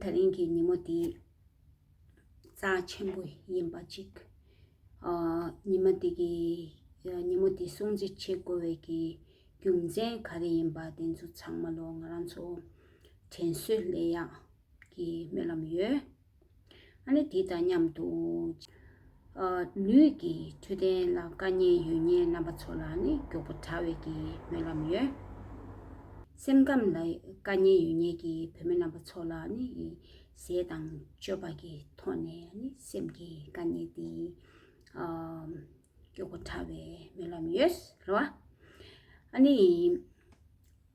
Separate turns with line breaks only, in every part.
ད་རིང་གི་ཉིན་མོ་འདི་རྩ་ཆེན་པོ་ཡིན་པ་གཅིག། ཉིན་མོ་འདི་གི་ཉིན་མོ་འདི་སྲུང་བརྩི་བྱེད་དགོས་བའི་གི་རྒྱུ་མཚན་ག་རེ་ཡིན་པ་དེ་ཚོ་ཚང་མ་ལོ་ང་རང་ཚོ་དྲན་གསོས་ལས་ཡག་གི་སྨོན་ལམ་ཡོད། ཨ་ནི་དེ་དང་མཉམ་དུ། ལུས་ཀྱི་འཕྲོད་བསྟེན་ལ་དཀའ་ཉེན་ཡོད་ཉེན་རྣམ་པ་ཚོ་ལ་ནི་མགྱོགས་པོ་དྲག་བས་ཀྱི་སྨོན་ལམ་ཡོད། སེམས་ཁམས་ལ་དཀའ་ཉེན་ཡོད་ཉེན་གྱི་བུད་མེད་རྣམ་པ་ཚོ་ལ་ནི་ཟས་དང་སྤྱོད་པ་གྱི་ཐོག་ནས་ནི་སེམས་ཀྱི་དཀའ་ཉེན་དེ་མགྱོགས་པོ་དྲག་བས་སྨོན་ལམ་ཡོད་རེད་བ། ཨ་ནི།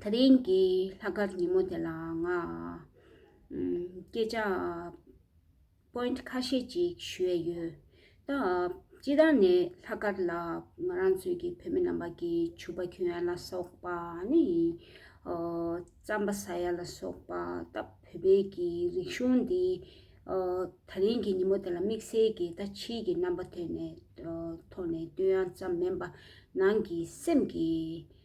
ད་ཐེངས་ཀྱི་ལྷག་དཀར་ཉིན་མོ་དེ་ལ་ང་སྐད་ཆ Point ཁ་ཤས་ཅིག་ཞུས་ཡོད། ད་སྤྱི་ལྟར་ནས་ལྷག་དཀར་ལ་ང་རང་ཚོའི་གི་བོད་མི་རྣམ་པ་ཀྱི་ཕྱུ་པ་ཁྱོད་ཡ་ལ་སོགས་པ་ནི་རྩམ་པ་ཟ་ཡ་ལ་སོགས་པ་ད་བོད་པའི་གི་རིག་གཞུང་འདི་ད་ཐེངས་ཀྱི་ཉིན་མོ་དེ་ལ་དམིགས་བསལ་གྱི་ད་ཕྱིའི་གི་རྣམ་པ་ཐོན་ནས་ཐོག་ནས་བསྟོད་དབྱངས་ཙམ་མིན་པ་ནང་གི་སེམས་ཀྱི་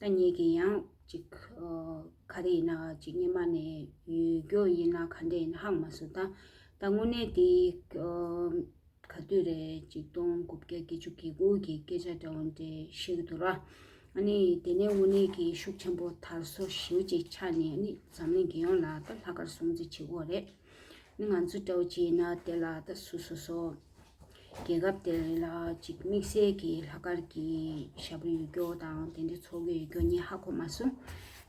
ད་ཉིད་ཀྱི་ཡང་ཅིག། ག་དེ་ཡིན་ན་ཅིག་སྙེ་མ་ནས་ཡོད་རྒྱུ་ཡིན་ན་ག་འདྲས་ཡིན་ཧང་མ་སུ་ད། ད་དངོས་གནས་དེ། ག་དུས་རེད་ཅིག་སྟོང་དགུ་བརྒྱ་བརྒྱད་ཅུ་གྱི་དགུ་གི་སྐད་ཆ་འདྲ་བོ་འདྲེ་ཤིག་འདུག་ར། ཨ་ནི་དེ་ནས་དངོས་གནས་ཀྱི་ཤུགས་ཆེན་པོ་དར་སོ་ཞེའུ་ཅིག་ཆགས་ནས་ཨ་ནི་འཛམ་གླིང་རྒྱལ་ཡོངས་ལ་ད་ལྷག་དཀར་སྲུང་རྩི་བྱེད་དགོས་རེད། ནི་ང་ཚོ་སྤྲོ་སྐྱིད་ན་དེ་ལ་ད་སུ་སོ་སོ། རྒྱལ་ཁབ་དེ་རིང་ལ་གཅིག་དམིགས་བསལ་གྱི་ལྷག་དཀར་གྱི་ཞབས་བྲོ་ཡོད་རྒྱུ་དང་དེ་འདྲའི་ཚོགས་ཡོད་རྒྱུ་གཉིས་ཧ་གོ་མ་སོང།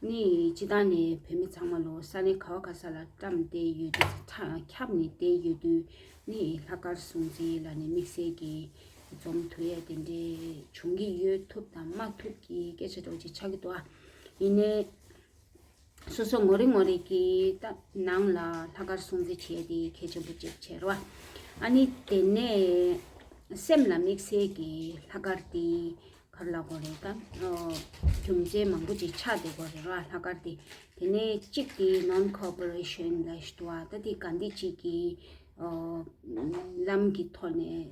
ནི་སྤྱི་བཏང་ནས་བོད་མི་ཚང་མ་ལོ་སར་ནས་ཁ་བ་ཁ་ས་ལ་བཀྲམ་སྟེ་ཡོད་དུས་ཁྱབ་ནས་བསྡད་ཡོད་དུས་ནི་ལྷག་དཀར་སྲུང་བརྩི་ལ་ནི་དམིགས་བསལ་གྱི་འཛོམས་ཐུ་ཡ་དེ་འདྲའི་བྱུང་གི་ཡོད་ཐུབ་དང་མ་ཐུབ་ཀྱི་སྐད་ཆ་སྤྲོ་སྐྱིད་ཆགས་ཀྱི་འདུག་ཨ། ཡིན་ནའི། སོ་སོ་ངོ་རེ་ངོ་རེ་གི་ནང་ལ་ལྷག་དཀར་སྲུང་བརྩི་བྱས་ཏེ་ཁྱེད་ཆེན་པོ་ཅེས་བྱ་བ། ཨ་ནི་དེ་ནས་སེམས་ལ་དམིགས་བསལ་གྱི་ལྷག་དཀར་དེ་གར་ལ་གོ་རེ་དང། རྒྱུ་མཚན་མང་པོ་ཅིག་ཆགས་ཏེ་གོ་རེ་ལ་ལྷག་དཀར་དེ། དེ་ནས་གཅིག་དེ non cooperation ལ་ཞུ་བ་ད་དེ་ག་འདི་གཅིག་གི་ལམ་གྱི་ཐོག་ནས།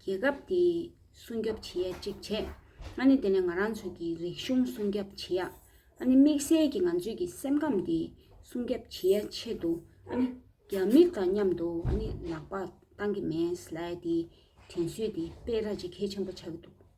རྒྱལ་ཁབ་དེ་སྲུང་སྐྱོབ་བྱེད་ཡ་གཅིག་བྱེད། ཨ་ནི་དེ་ནས་ང་རང་ཚོ་གི་རིག་གཞུང་སྲུང་སྐྱབ་བྱེད་ཡ། ཨ་ནི་དམིགས་བསལ་གྱི་ང་ཚོས་ཀྱི་སེམས་ཁམས་དེ་སྲུང་སྐྱབ་བྱེད་ཡ་ཆེད་དུ་ཨ་ནི་རྒྱ་མི་དང་མཉམ་དུ་ཨ་ནི་ལག་པ་བཏང་གི་མེད། ལའི་དེ་དྲན་གསོས་དེ་སྤེལ་ར་གཅིག་གལ་ཆེན་པོ་ཆགས་ཀྱི་འདུག།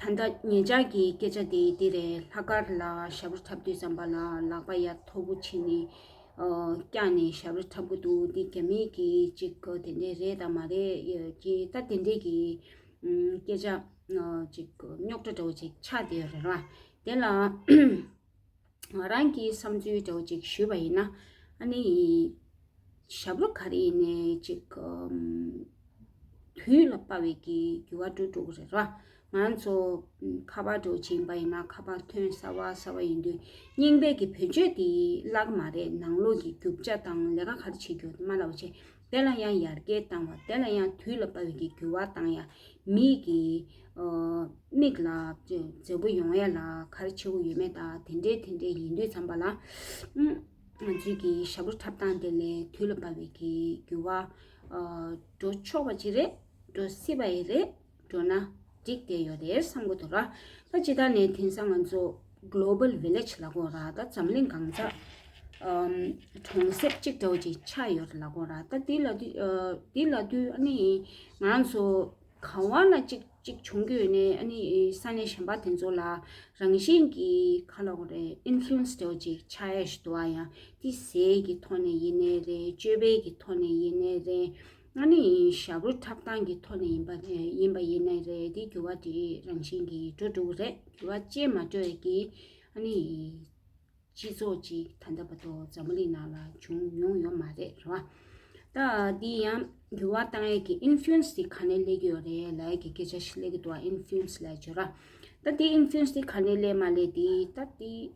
ད་ལྟ་ངེད་ཅག་གི་སྐད་ཆ་དེ་འདི་རེད་ལྷག་དཀར་ལ་ཞྭ་བུ་འཁྲབ་དུས་ཟམ་པ་ལ་ལག་པ་ཡ་མཐོ་པོ་བྱིན་ནས་བཀྱགས་ནས་ཞྭ་བུ་འཁྲབ་གི་འདུག་འདི་རྒྱ་མི་གི་ཅིག་དེ་འདྲས་རེད་དམ་མ་རེད་ཀྱི་ད་དེ་འདྲས་ཀྱི་སྐད་ཆ་ཅིག་རྙོག་དྲ་འདྲ་བོ་ཅིག་ཆགས་དེ་རེད་ལ་དེ་ལ་ང་རང་གིས་བསམ་ཚུལ་དེ་བ་ཅིག་ཞུས་པ་ཡིན་ན། ཨ་ནེ་ཡིས། ཞབས་ལོ་ག་རེ་ཡིན་ནས་ཅིག། དུས་ལ་དཔའ་བའི་གི་རྒྱུ་བ་འགྲོ་འགྲོ་གི་རེད་ར། ང་རང་ཚོ། ཁ་པར་འགྲོ་བྱིན་པ་ཡིན་ན་ཁ་པར་ཐོན་ས་བ་ས་བ་ཡིན་དུས། རྙིང་པའི་གི་བོད་ཆོས་དེ་བརླག་གི་མ་རེད་ནང་ལོག་གི་རྒྱུ་བཅའ་དང་ལས་ཀ་ག་རེ་བྱེད་རྒྱུ་དེ་མ་ལ་བ་ཆེ། དེ་ལ་ཡང་ཡར་རྒྱས་བཏང་བ་དེ་ལ་ཡང་དུས་ལ་དཔའ་བའི་གི་གུ་བ་བཏང་ཡང་མིག་གི། མིག་ལ། མཛེས་པོ་ཡོང་ཡ་ལ་གར་ཆེ་བོ་ཡོད་མེད་དང་དེ་འདྲའི་དེ་འདྲའི་ཡིན་དུས་འཚམ་པ་ལ། ང་ཚོས་ཀྱི་ཞབས་བྲོ་འཁྲབ་སྟངས་དེ་ལས་དུས་ལ་དཔའ་བའི་གི་གུ་བ། འགྲོ་ཆོག་པ་ཅིག་རེད། འགྲོ་སྲིད་པ་ཡི་རེད། འགྲོ་ན་འགྲིག་དེ་ཡོད་དེ་བསམ་གོ་ཐུབ། ད་ཅི་ད་ནས་དེང་སང་ང་ཚོ Global Village ལ་གོ་ར་ད་འཛམ་གླིང་གང་ས་གྲོང་གསེབ་གཅིག་འདྲ་བོ་ཅིག་ཆགས་ཡོད་རེད་ལ་གོ་ར་ད་དེ་ལ་དུས་ཨ་ནི་ང་ཚོ་ག་བ་ན་ཅིག་ཅིག་བྱུང་གི་ཡོད་ནས་ཨ་ནི་ས་གནས་གཞན་པ་དེ་ཚོ་ལ་རང་བཞིན་གྱི་ག་ལ་གོ་རེ Influence འདྲ་བོ་ཅིག་ཆགས་ཡས་ཞུ་དུ་བ་ཡང་དེ་ཟས་ཀྱི་ཐོག་ནས་ཡིན་ནས་རེད་སྤྱོད་པའི་གི་ཐོག་ནས་ཡིན་ནས་རེད། ང་ནི་ཞབས་རོ་འཁྲབ་སྟངས་ཀྱི་ཐོག་ནས་ཡིན་པ་ཡིན་པ་ཡིན་ནའི་རེད་དེ་འགྱུར་བ་དེ་རང་བཞིན་གྱིས་འགྲོ་འགྲོ་གི་རེད་འགྱུར་བ་ཅན་མ་འགྲོ་ཡ་གི། ཨ་ནི། སྤྱི་ཚོགས་ཅིག་ད་ལྟ་བར་དུ་འཛམ་བུ་གླིང་ནང་ལ་བྱུང་མྱོང་ཡོད་མ་རེད་རེད་བ། ད་འདི་ཡང་འགྱུར་བ་བཏང་ཡ་གི influence དེ་ག་ནས་སླེབས་ཀྱི་ཡོད་རེད་ལའི་གི་སྐད་ཆ་ཞིག་སླེབས་ཀྱི་འདུག་བ influence ལའི་བརྗོད་ར། ད་དེ influence དེ་ག་ནས་སླེབས་མ་སླེབས་དེ་ད་དེ།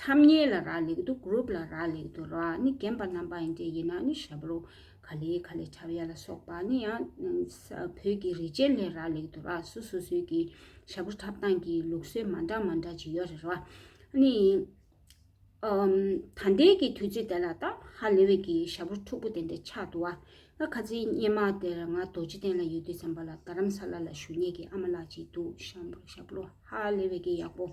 ཁྲམ་གཉིས་ལ་རག་ལས་དུ་གུརུབ་ལ་རག་ལས་དུ་ར་ནི་རྒན་པ་རྣམ་པ་ཡིན་དེ་ཡིན་ན་ནི་ཤ་བ་རུ་ག་ལི་ག་ལི་ཁྲབ་ཡ་ལ་སོགས་པ་ནི་ཡང་བོད་ཀྱི་རི་ཅན་ལས་རག་ལས་དུ་ར་སུ་སུ་སུ་གི་ཤ་བུ་ཁྲབ་སྟངས་ཀྱི་ལུགས་སྲོལ་མ་འདྲ་མ་འདྲ་ཅི་ཡོད་རེད་ར་ནི་ད་འདས་ཀྱི་དུས་ཚོད་དེ་ལ་ད་ཧ་ལེ་བའི་ཀྱི་ཤ་བུ་ཕྲུག་པོ་དེ་འདྲ་ཆགས་འདུག་བ་ང་ཁ་ཚིག་སྙན་མ་དེར་ང་རྡོ་རྗེ་གདན་ལ་ཡོད་དུས་བསམ་པ་ལ་རྡ་རམ་ས་ལ་ལ་བཞུགས་ཉེ་གི་ཨ་མ་ལགས་ཅིག་འདུག་ཤམ་བུ་ཤ་བུ་ཧ་ལེ་བའི་ཀྱི་ཡག་པོ།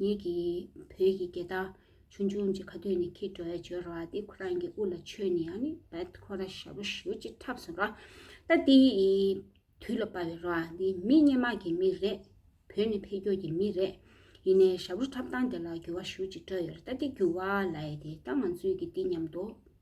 ངེད་ཀྱི་བོད་ཀྱི་རྒྱལ་དར་ཆུང་ཆུང་གཅིག་ཁ་ཐོད་ནས་འཁྱིལ་འགྲོ་བའི་སྦྱོར་བ་འདི་ཁོ་རང་གི་དབུ་ལ་འཆོས་ནས་ཡང་ནི་བད་ཁོ་ར་ཞབས་པོ་ཞུ་ཅིག་འཁྲབ་སོང་ར་ད་འདི་དུས་ལ་དཔའ་བའི་ར་འདི་མི་སྙན་མག་གི་མི་རེད་བོད་ནི་འཕེལ་འགྱོག་གི་མི་རེད་ཡིན་ནའི་ཞབས་པོ་འཁྲབ་སྟངས་དེ་ལ་འགྱུར་བ་ཞུ་ཅིག་འགྲོ་ཡོད་ར་ད་འདི་འགྱུར་བ་ལ་ཡེ་དེ་ད་ང་ཚོས་ཀྱི་འདི་ཉམས་དོ།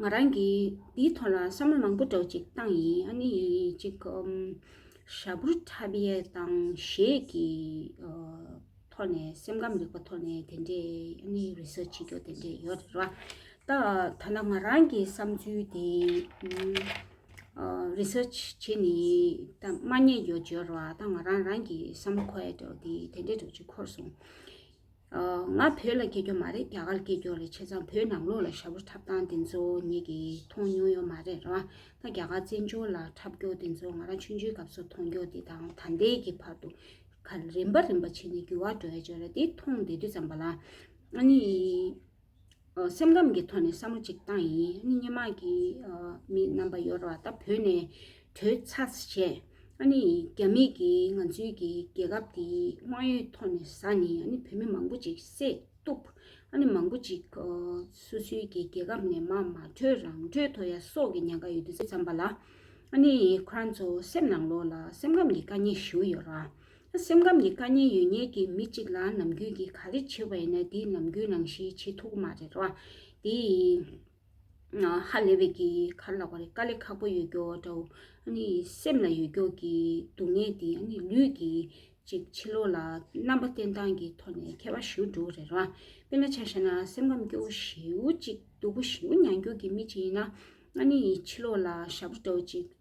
ང་རང་གི་འདིའི་ཐོག་ལ་བསམ་བློ་མང་པོ་སྒྲོག་ཅིག་བཏང་ཡིན་ཨ་ནི་གཅིག་ཞྭ་ཕུར་ཐ་བྷི་ཨེ་ཏང་ཞེས་ཀྱི་ཐོག་ནས་སེམས་ཁམས་རིག་པ་ཐོག་ནས་དེ་འདྲས་ཨ་ནི Research བྱེད་རྒྱུ་དེ་འདྲས་ཡོད་རེད་རེད་བ། ད་ད་ནི་ང་རང་གི་བསམ་ཚུལ་དེ Research བྱེད་ནི་ད་མ་ཉེས་ཡོད་བྱོས་རེད་བ། ད་ང་རང་རང་གི་བསམ་བློ་ཁོའེ་སྒྲོག་དེ་དེ་འདྲས་སྒྲོག་ཅིག་ཁོར་སོང། ང་བོད་ལ་སྐྱེས་རྒྱུ་མ་རེད་རྒྱ་གར་སྐྱེས་རྒྱུ་རེད་བྱས་ཙང་བོད་ནང་ལོགས་ལ་ཞྭ་བོ་འཁྲབ་སྟངས་དེ་ཚོ་ཉིད་ཀྱིས་མཐོང་མྱོང་ཡོད་མ་རེད་རང་ད་རྒྱ་གར་བཙན་བྱོལ་ལ་འཁྲབ་རྒྱོགས་དེ་ཚོ་ང་རང་ཆུང་ཆུང་སྐབས་སུ་མཐོང་རྒྱོགས་དེ་དང་ད་ལྟའི་གི་བར་དུ་ཁ་རིམ་པ་རིམ་པ་བྱས་ནས་རྒྱུ་བ་འགྲོ་ཡ་བྱོས་ར་དེ་མཐོང་བསྡད་དུས་ཙམ་པ་ལ་ཨ་ནི། སེམས་ཁམས་ཀྱི་ཐོག་ནས་བསམ་བློ་གཅིག་བཏང་ཡིན་ཨ་ནི་སྙེ་མ་གི་མི་རྣམ་པ་ཡོད་ར་ད་བོད་ནས་བྲོས་ཚར་བྱས་ཨ་ནི་རྒྱ་མི་གི་ང་ཚོའི་གི་རྒྱལ་ཁབ་དེ་དབང་ཡོད་ཐོག་ནས་ས་ནི་ཨ་ནི་བོད་མི་མང་པོ་ཅིག་བསད་གཏུབ་ཨ་ནི་མང་པོ་ཅིག་སོ་སོའི་གི་རྒྱལ་ཁབ་ནས་མ་མ་བྲོས་རང་བྲོས་ཐོ་ཡ་སོག་གི་ཉན་ཁ་ཡོད་དུ་ཙམ་པ་ལ་ཨ་ནི་ཁོ་རང་ཚོ་སེམས་ནང་ལོག་ལ་སེམས་ཁམས་ཀྱི་དཀའ་ཉེ་ཞུ་ཡོད་ར་སེམས་ཁམས་ཀྱི་དཀའ་ཉེན་ཡོད་ཉེས་ཀྱིས་མི་གཅིག་ལ་ནམ་རྒྱུན་གྱི་ག་རེ་བྱེད་པ་ཡིན་ན་དེའི་ནམ་རྒྱུན་ནང་བཞིན་བྱེད་ཐུག་གི་མ་རེད་རོ། དེ་ཡིས་ཧ་ལས་པའི་གི་གར་ལག་པ་རེད་དཀའ་ལས་ཁག་པོ་ཡོད་རྒྱོ་འདྲ་བོ། ཨ་ནི་སེམས་ལ་ཡོད་རྒྱོ་གི་སྡུག་བསྔལ་དེ་ཨ་ནི་ལུས་ཀྱི་ཅིག་ཕྱི་ལོག་ལ་རྣམ་པ་བསྟན་སྟངས་ཀྱི་ཐོག་ནས་ཁྱད་པར་ཞུ་འགྲོ་རེད་རོ། དཔེ་ན་ཆ་ཤས་ན་སེམས་ཁམས་སྐྱོ་བོ་ཞེའུ་ཅིག་སྡུག་པོ་ཞེའུ་མྱང་རྒྱུ་གི་མི་ཅིག་ཡིན་ན་ཨ་ནི་ཡི་ཕྱི་ལོག་ལ་ཞབས་བྲོ་འདྲ་བོ་ཅིག་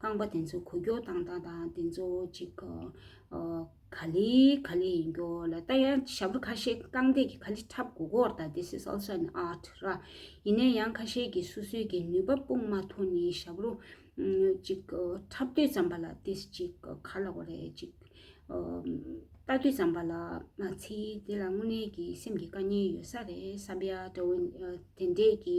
རྐང་པ་དེ་ཚོ་གོ་རྒྱོག་དང་དང་དང་དེ་ཚོ་ཅིག་ག་ལི་ག་ལི་ཡིན་རྒྱོ་ལ་ལྟ་ཡ་ཞྭ་བུ་ཁ་ཤས་རྐང་སྟེགས་ཀྱི་ག་ལི་འཁྲབ་གོ་གོར་ལྟ this is also an art ར་ཡིན་ནས་ཡང་ཁ་ཤས་ཀྱི་སུ་སུའི་ཀྱི་ནུས་པ་སྤུངས་མ་ཐུ་ནི་ཞྭ་བུ་ཅིག་ག་འཁྲབ་དུས་ཙམ་པ་ལ this ཅིག་ག་ཁ་ལ་བ་རེ་ཅིག་ལྟ་དུས་ཙམ་པ་ལ་མ་ཚི་དེ་ལ་དངོས་གནས་ཀྱི་སེམས་ཀྱི་དཀའ་ཉེན་ཡོད་ས་རེད་བསམ་པ་ཡ་དེ་འདྲས་ཀྱི་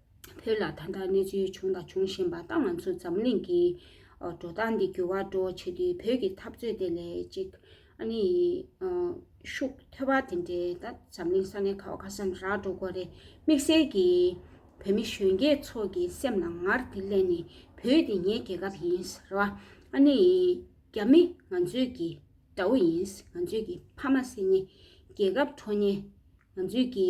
བོད་ལ་ད་ལྟ་གནས་ཚུལ་བྱུང་དང་འབྱུང་བཞིན་པ་ལྟ་ང་ཚོ་འཛམ་གླིང་གི་འགྲོ་སྟངས་འདི་འགྱུར་བ་འགྲོ་བྱེད་དུས་བོད་ཀྱི་འཐབ་རྩོད་དེ་ལས་ཅིག་ཨ་ནེ་ཡི་ཤུགས་ཐོས་པ་དེ་འདྲས་ད་འཛམ་གླིང་ས་གནས་ཁ་བ་ཁ་སང་རག་འགྲོ་དགོས་རེད་དམིགས་བསལ་གྱི་བོད་མི་གཞོན་སྐྱེས་ཚོ་གི་སེམས་ལ་ངར་དེ་གླན་ནས་བོད་དེ་ངའི་རྒྱལ་ཁབ་ཡིན་རེད་བ་ཨ་ནེ་ཡི་རྒྱ་མི་ང་ཚོའི་གི་དགྲ་བོ་ཡིན་ང་ཚོའི་གི་ཕ་མ་སྲིད་ཉེ་རྒྱལ་ཁབ་ཁྲོ་ཉེ་ང་ཚོའི་གི་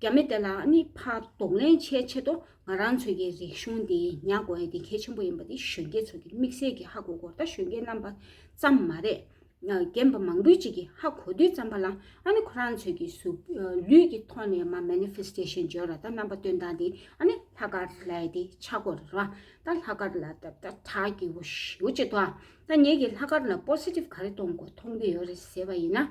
རྒྱ་མི་དེ་ལའང་ནི་ཕ་གདོང་ལེན་བྱེད་ཆེད་དུ་ང་རང་ཚོའི་གི་རིག་གཞུང་འདི་ཉག་དགོ་ཡ་དེ་གལ་ཆེན་པོ་ཡིན་པ་དེ་གཞོན་སྐྱེས་ཚོ་གི་དམིགས་བསལ་གི་ཧ་གོ་གོ་ད་གཞོན་སྐྱེས་རྣམ་པ་ཙམ་མ་རེད། རྒན་པ་མང་པོའི་ཅིག་གི་ཧ་གོ་དུས་ཙམ་པ་ལ་ཨ་ནི་ཁོ་རང་ཚོའི་གི་གཟུགས་ལུས་ཀྱི་ཐོག་ནས་མ Manifestation བརྗོད་ར་ད་རྣམ་པ་སྟོན་སྟངས་དེ་ཨ་ནི་ལྷ་དཀར་ལའི་དེ་ཆ་གོ་ར་ད་ལྷ་དཀར་ལ་ད་ད་ད་གི་འོ་ཞེ་འོ་ཅེ་ད་ད་ངས་གི་ལྷ་དཀར་ལ Positive ག་རེ་གཏོང་དགོས་མཐོང་གི་ཡོད་རེད་ཟེར་བ་ཡིན་ན།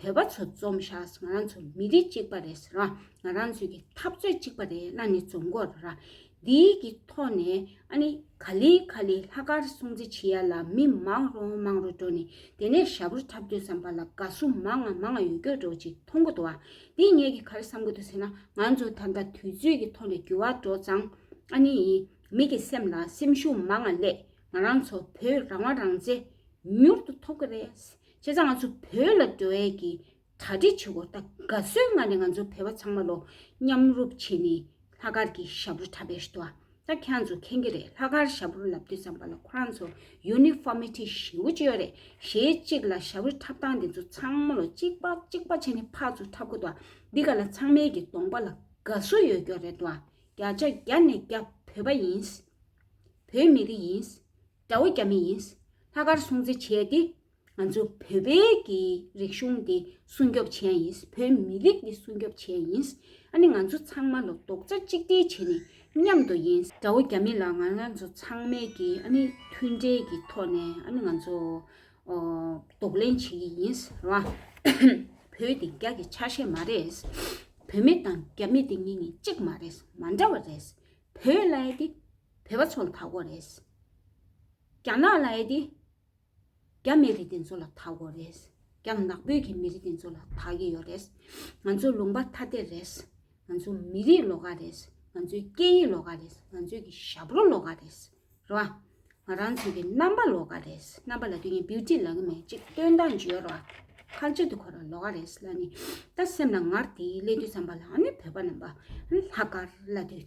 བོད་པ་ཚོ་རྩོམ་ཤགས་ང་རང་ཚོ་མི་རིགས་གཅིག་པ་རེད་ཟེར་བ་ང་རང་ཚོའི་གི་འཐབ་རྩོད་གཅིག་པ་རེད་ན་ནི་རྩོམ་འགོ་ར་འདིའི་གི་ཐོག་ནས་ཨ་ནི་ག་ལི་ག་ལི་ལྷ་དཀར་སྲུང་བརྩི་བྱེད་ཡ་ལ་མི་མང་རོ་མང་རོ་འགྲོ་ནི་དེ་ནས་ཞྭ་བུར་འཁྲབ་དགོས་བསམ་པ་ལ་དགའ་བསུ་མང་ང་མང་ང་ཡོད་སྐྱོ་འགྲོ་ཅིག་མཐོང་གོ་འདུག་ཨ་འདི་ངས་གི་ག་རི་བསམ་གོ་འདུག་ཟེར་ན་ང་ཚོ་ད་ལྟ་དུས་ཚོད་གི་ཐོག་ནས་འགྱུར་བ་འགྲོ་ཙང་ཨ་ནི་ཡིན་མི་གི་སེམས་ལ་སེམས་ཤུགས་མང་ང་སླེབས་ང་རང་ཚོ་བོད་རང་དབང་རང་བཙན་མྱུར་དུ་ཐོབ་གི་རེད། བྱས་ཙང་ང་ཚོ་བོད་ལ་འགྲོ་འེ་གི་གྲ་སྒྲིག་བྱེད་དགོས་ད་ག་སོའི་སྔ་ནས་ང་ཚོ་བོད་པ་ཚང་མ་ལོ་མཉམ་རུབ་བྱེད་ནི་ལྷ་དཀར་གི་ཞབས་རུ་གྲ་བེར་ཏོ་ད་ཁྱེད་རང་ཚོ་མཁྱེན་གི་རེད་ལྷ་དཀར་ཞབས་རུ་ལབ་དུས་ཙམ་པ་ལ་ཁོ་རང་ཚོ་ཡུ་ནི་ཧྥོ་མི་ཏི་ཞིམ་པོ་བཅོས་རེད་ཞེས་གཅིག་ལ་ཞབས་རུ་འཁྲབ་སྟངས་དེ་ཚོ་ཚང་མ་ལོ་གཅིག་པ་གཅིག་པ་བྱེད་ནི་ཕག་ཚོ་འཁྲབ་དགོས་ཏོ་འདི་ག་ལ་ཚང་མའི་གི་གདོང་པ་ལ་ག་སོ་ཡོད་སྐྱོ་རེད་ཏོ་རྒྱ་ཆ་རྒྱ་ནས་རྒྱ་བོད་པ་ཡིན། བོད་མི་རིགས་ཡིན། རྒྱ་བོད་རྒྱ་མི་ཡིན། ལྷག་དཀར་སྲུང་བརྩི་བྱས་ཏེ། ང་ཚོ་བོད་པའི་གི་རིག་གཞུང་འདི་སྲུང་སྐྱོབ་བྱས་ཡིན། བོད་མི་རིགས་འདི་སྲུང་སྐྱོབ་བྱས་ཡིན། ཨ་ནི་ང་ཚོ་ཚང་མ་ལོ་རྡོག་རྩ་གཅིག་སྒྲིལ་བྱས་ནས་མཉམ་དུ་ཡིན། རྒྱ་བོད་རྒྱ་མི་ལ་ང་ང་ཚོ་ཚང་མའི་གི་ཨ་ནི་མཐུན་འབྲེལ་གི་ཐོག་ནས་ཨ་ནི་ང་ཚོ་རྡོག་ལེན་བྱེད་ཀྱི་ཡིན། ར་བོད་དེ་རྒྱ་གི་ཆ་ཤས་མ་རེད། བོད་མི་དང་རྒྱ་མི་དེ་གཉིས་ནི་གཅིག་མ་རེད་མ་འདྲ་བ་རེད། བོད་ལྭའི་དེ། བོད་པ་ཚོ་ལ་དག་གོ་རེད། རྒྱ་ནག་ལ་ཡི་དེ། རྒྱ་མི་རིགས་དེ་ཚོ་ལ་དག་གོ་རེད། རྒྱ་ནག་བོད་ཀྱི་མི་རིགས་དེ་ཚོ་ལ་དག་གི་ཡོད་རེད། ང་ཚོ་ལུང་པ་ཐ་དད་རེད། ང་ཚོ་མི་རིགས་ལོ་ག་རེད། ང་ཚོའི་སྐད་ཡིག་ལོ་ག་རེད། ང་ཚོའི་གི་ཞབས་རོ་ལོ་ག་རེད། རེད་བ། ང་རང་ཚོའི་གི་རྣམ་པ་ལོ་ག་རེད། རྣམ་པ་ལ་དུས་ངན Beauty ལ་གི་མེ་ཅིག་སྟོན་དང་བརྗོད་རོ། ཁ་ལྕེ་དུ་འཁོར་བ་ལོ་ག་རེད་ལ་ནི། ད་སེམས་ལ་ངར་དེའི་སླད་དུ་བསམ་པ་ལ་ཨ་ནི་བོད་པ་རྣམ་པ། ལྷག་དཀར་ལ་དུས།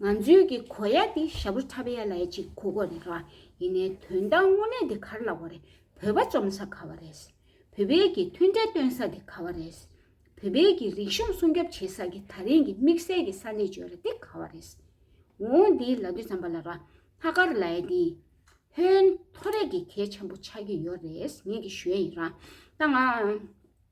ང་ཚོའི་གི་གོ་ཡ་དེ་ཞབས་རུ་ཁྲ་བེ་ཡ་ལའི་གཅིག་གོ་གོ་རེད་ཀ་ཡིན་ནའི་དོན་དང་དངོས་གནས་དེ་གར་ལ་བ་རེད་བོད་པ་བཅོམ་ས་ག་བ་རེད་བོད་པའི་གི་མཐུན་འབྲེལ་སྟོན་ས་དེ་ག་བ་རེད་བོད་པའི་གི་རིག་གཞུང་སྲུང་སྐྱོབ་བྱེད་ས་གི་ད་རིང་གི་དམིགས་བསལ་གི་ས་གནས་བྱོས་ར་དེ་ག་བ་རེད་འོ་འདི་ལ་དུས་ཙམ་པ་ལ་ར་ལྷ་གར་ལའི་དེ་ཧོན་ཐོ་རེད་གི་གལ་ཆེན་པོ་ཆགས་ཀྱི་ཡོ་རེད་ངས་གི་ཞོའི་ཡིན་ར་ད་ང།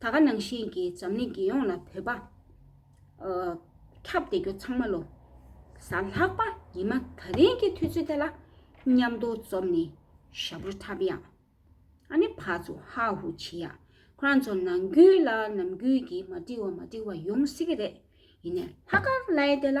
ད་ག་ནང་བཞིན་གྱི་འཛམ་གླིང་རྒྱལ་ཡོངས་ལ་བོད་པ། ཁྱབ་བདེ་རྒྱུ་ཚང་མ་ལོ། ས་ལྷག་པ་ཉི་མ་ད་རིང་གི་དུས་ཚོད་དེ་ལ། མཉམ་དུ་འཛོམས་ནས་ཞབས་བྲོ་འཁྲབ་ཡག། ཨ་ནི་ཕ་ཚོ་ཧ་ཧུ་བྱེད་ཡག་ཁོ་རང་ཚོ་ནང་རྒྱུད་ལ་ནམ་རྒྱུན་གྱི་མ་འགྲིག་བ་མ་འགྲིག་བ་ཡོང་སྲིད་ཀྱི་རེད། ཡིན་ནས་ལྷག་དཀར་བླའི་དེ་ལ་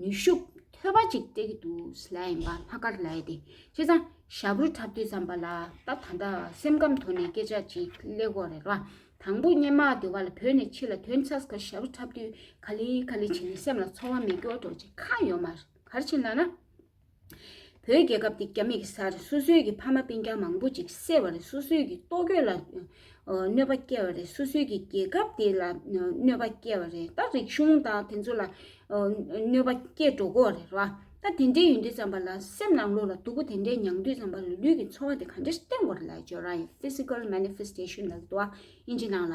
ནུས་ཤུགས་ཐོལ་བ་ཅིག་སྤྲད་ཀྱི་འདུག་ལ་ཡིན་པ་ལྷག་དཀར་ལ་ཡེ་དེ་ཁྱེད་ཚང་ཞྭ་བུར་འཁྲབ་དུས་བསམ་པ་ལ་ད་ད་ལྟ་སེམས་ཁམས་དོར་ནས་སྐད་ཆ་ཅིག་གླེ་གོ་རེད་ལ་དང་པོ་སྙན་མ་དེ་བ་ལ་བོད་ནས་ཕྱི་ལ་དོན་ཚྭས་ཁ་ཞྭ་བུ་འཁྲབ་དུས་ག་ལི་ག་ལི་བྱེད་ནས་སེམས་ལ་ཚོར་བ་མེད་སྐྱོ་དོག་ཅིག་གང་ཡོད་མ་གར་ཕྱིན་ལ་ན། བོད་རྒྱལ་ཁབ་འདི་རྒྱ་མི་གི་སར་སོ་སོའི་གི་ཕ་མ་སྤུན་རྒྱ་མང་པོ་ཅིག་བསད་པ་རེད་སོ་སོའི་གི་ལྟོ་གོས་ལ་གནོད་པ་བསྐྱལ་བ་རེད་སོ་སོའི་གི་རྒྱལ་ཁབ་འདི་ལ་གནོད་པ་བསྐྱལ་བ་རེད་ད་རིག་གཞུང་དང་དེ་ཚོ་ལ་གནོད་པ་བསྐྱལ་འགྲོ་གོ་རེད་ར་ད་དེ་འདྲའི་ཡུན་དུས་ཙམ་པ་ལ་སེམས་ནང་ལུག་ལ་སྡུག་པོ་དེ་འདྲའི་མྱང་དུས་ཙམ་པ་ལ་ལུས་གི་འཚོ་བ་དེ་ག་འདྲའི་སྟེང་གོ་རེད་ལ་ཇོ་རང་ཡི physical manifestation ལ་དུ་བ་ཨིན་ཇི་ནང་ལ་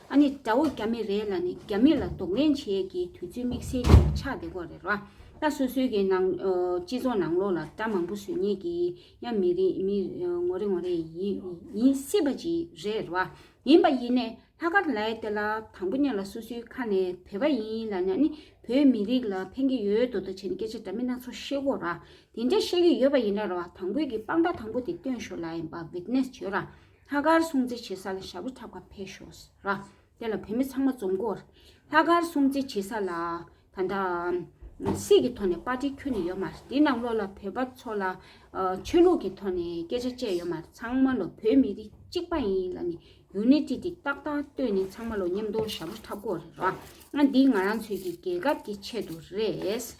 ཨ་ནི་དགྲ་བོ་རྒྱ་མི་རེད་ལ་ནི་རྒྱ་མི་ལ་རྡོག་ལན་བྱེད་ཀྱི་དུས་ཚོད་དམིགས་བསལ་ཅིག་ཆགས་བསྡད་པོ་རེད་ར་ད་སོ་སོའི་གི་ནང་སྤྱི་ཚོགས་ནང་ལོགས་ལ་དགྲ་མང་པོ་བཟོས་ཉེས་ཀྱི་ཡ་མི་རིགས་མི་ངོ་རེ་ངོ་རེ་ཡིན་སྲིད་པ་ཅིག་རེད་ར་ཡིན་པ་ཡིན་ནས་ལྷ་དཀར་ལའི་དེ་ལ་དང་པོ་གཉེར་ལ་སོ་སོའི་ཁ་ནས་བོད་པ་ཡིན་ལ་ན་ནི་བོད་མི་རིགས་ལ་ཕན་གྱི་ཡོད་དོ་དོ་བྱས་ནས་སྐད་ཆ་འདྲ་མིན་སྣ་ཚོགས་བཤད་གོ་ར་དེ་འདྲ་བཤད་ཀྱི་ཡོད་པ་ཡིན་ན་ར་དང་པོའི་གི་དཔང་རྟགས་དང་པོ་དེ་སྟོན་ཞོར་ལ་ཡིན་པ་བིག་ནེས་བྱོས་ར་ལྷ་དཀར་སྲུང་བརྩི་བྱེད་ས་ལ་ཞབས་བྲོ་འཁྲབ་ཁ་འཕེལ་ཤོག་ཟེར། དེ་ལ་བོད་མི་ཚང་མ་འཛོམས་སྐོར། ལྷ་དཀར་སྲུང་བརྩི་བྱེད་ས་ལ། ད་ལྟ། སྲིད་ཀྱི་ཐོག་ནས་པར་ཏི་ཁྱོན་ནས་ཡོད་མ་རེད་དེ་ནང་ལོགས་ལ་བོད་པ་ཚོ་ལ། ཆོས་ལུགས་ཀྱི་ཐོག་ནས་སྐད་ཆ་བཅད་ཡོད་མ་རེད་ཚང་མ་ལོ་བོད་མི་རིགས་གཅིག་པ་ཡིན་ལ་ནི Unity དེ་ཏག་ཏག་བཏོད་ནས་ཚང་མ་ལོ་མཉམ་དུ་ཞབས་བྲོ་འཁྲབ་སྐོར་རེད། འདི་ང་རང་ཚོའི་གི་རྒྱལ་ཁབ་ཀྱི་ཆེད་དུ་རེད།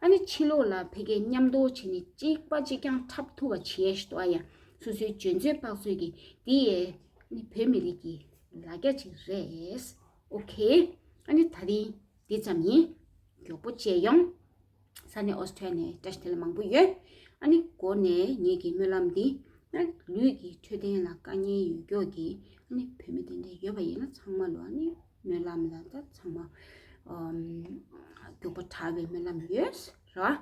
ཨ་ནི་ཕྱི་ལོགས་ལ་བོད་སྐད་མཉམ་འདོགས་བྱས་ནས་གཅིག་པ་གཅིག་རྐྱང་འཁྲབ་ཐུབ་པ་བྱས་ཤི་ཏོ་ཨ་ཡ་སོ་སོའི་འཇོན་ཚོད་དཔག་ཚོད་ཀྱི་འདི་ཨེ་ནི་བོད་མི་རིགས་ཀྱི་ལ་རྒྱ་ཅིག་རེད་ཨོ་ཁེ་ཨ་ནི་ད་རིང་འདི་ཙམ་ཡིན་མགྱོགས་པོ་བཅས་ཡོང་ས་ནི་ཨོས་ཏྲེ་ལ་ནས་བཀྲ་ཤིས་དེ་ལ་མང་པོ་ཡོད་ཨ་ནི་གོ་ནས་ངེད་ཀྱི་སྨོན་ལམ་འདི་ཨ་ནི་ལུས་ཀྱི་འཕྲོད་བསྟེན་ལ་དཀའ་ངལ་ཡོད་མགྱོགས་ཀྱི་ཨ་ནི་བོད་མི་དེ་འདྲ་ཡོད་པ་ཡིན་ན་ཚང་མ་ལོ་ཨ་ནི། སྨོན་ལམ་ལ་ད་ཚང་མ་རྒྱུག་པ་དྲག་པའི་སྨོན་ལམ་ཡོད་རེད་ར།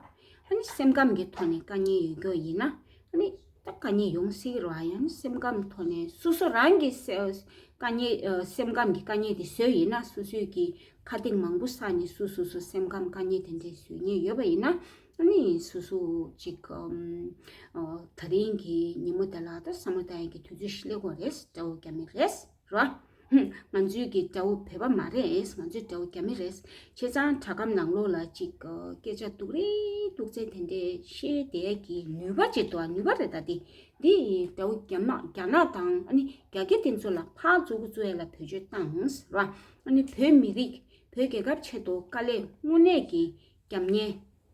ཨ་ནི་སེམས་ཁམས་ཀྱི་ཐོག་ནས་དཀའ་ངལ་ཡོད་རྒྱུ་ཡིན་ན་ཨ་ནི་ད་དཀའ་ངལ་ཡོང་སྲིད་ར། ཡང་ན་སེམས་ཁམས་ཐོག་ནས་སོ་སོ་རང་གི་དཀའ་ངལ་སེམས་ཁམས་ཀྱི་དཀའ་ངལ་དེ་བཟོས་ཡིན་ན་སོ་སོའི་གི་ཁ་གཏིང་མང་པོ་བསགས་ནས་སུ་སོ་སོ་སེམས་ཁམས་དཀའ་ངལ་དེ་འདྲས་བཟོས་ཉེས་ཡོད་པ་ཡིན་ན་ཨ་ནི་སུ་སུ་ཅིག་ད་རིང་གི་ཉིན་མོ་དེ་ལ་ད་ས་མོ་ད་ཡན་གྱི་དུས་ཚོད་ཤི་ལེ་གོ་རེད་ཟེར་བ་རྒྱ་མི་རེད། རོ། ང་ཚོའི་གི་དགྲ་བོ་བོད་པ་མ་རེད། ང་ཚོའི་དགྲ་བོ་རྒྱ་མི་རེད། ཁྱེད་ཚང་དྲ་སྒམ་ནང་ལོགས་ལ་ཅིག་སྐད་ཆ་སྡུག་རེ་སྡུག་བཙན་དེ་འདྲས་བཤད་བསྡད་གི་ནུས་པ་ཅིག་འདུག་ནུས་པ་རེད་ད་དེ་འདི་དགྲ་བོ་རྒྱ་དམག་རྒྱ་ནག་དང་ཨ་ནི་རྒྱ་སྐད་དེ་ཚོ་ལ་ཕག་བཙོ་གུ་བཙོ་ཡ་ལ་བོད་ཆོས་བཏངས་རོ། ཨ་ནི་བོད་མི་རིགས་བོད་རྒྱལ་ཁབ་ཆེད་དུ་དཀའ་ལས་དངོས་གནས་གི་རྒྱབ་གཉེར།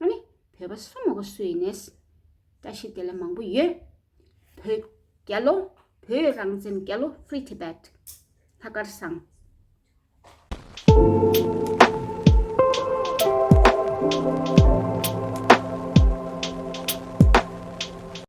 ང་ནི་བོད་པ་སོ་མོ་ག་སུ་ཡིན་ནས། བཀྲ་ཤིས་བདེ་ལེགས་མང་པོ་ཡོད། བོད་རྒྱལ་ལོ། བོད་རང་བཙན་རྒྱལ་ལོ Free Tibet། ལྷ་དཀར་བཟང།